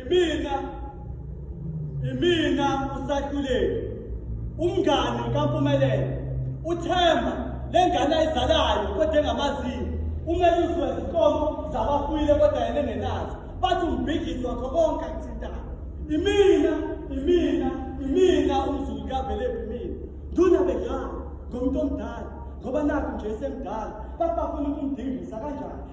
Imina imina usakhuleki umngani kaMpumelelo uThemba lengane ayizalayo kodwa engamaziyo umele uzwe izinkomo zabafuyile kodwa yena engenazo bathi umbhidlisi wakho konke akuthintayo imina imina imina umzulu kavelephi mina nduna begala ngomuntu omdala ngoba nakho nje esemdala bathi bafuna ukumdingisa kanjani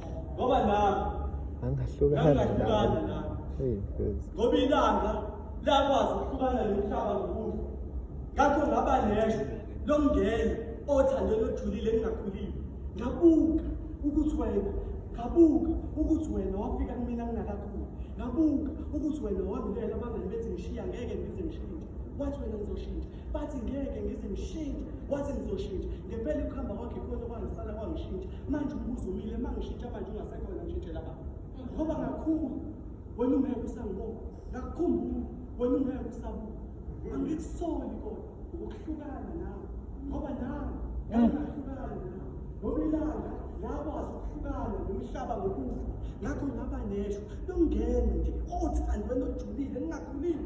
ngoba nami angahlukana nami ngoba ilanga lakwazi ukuhlukana nomhlaba ngokufa ngakho ngaba neshwa lomngena othandweni ojulile engingakhulile ngabuka ukuthi wena ngabuka ukuthi wena wafika kumina ngingakakhuli ngabuka ukuthi wena wangilela abangani bethi ngishiya ngeke ngize ngishintshe wathi wena ngizoshintsha bathi ngeke ngize ngishintshe wathi ngizoshintsha ngempela ukuhamba kwakhe ikhona kwangisala kwangishintsha manje umbuzo umile uma ngishintsha manje ungasekhona ngishintshela baba ngoba ngakhula wena ungeke usangibona ngakukhumbula wena ungeke usabuka angikusoli kodwa ukuhlukana nawe ngoba nawe ngangahlukana nawe ngoba ilanga yakwazi ukuhlukana nomhlaba ngokufa ngakho ngaba neshwa longena nje othi andwena ojulile ningakhulile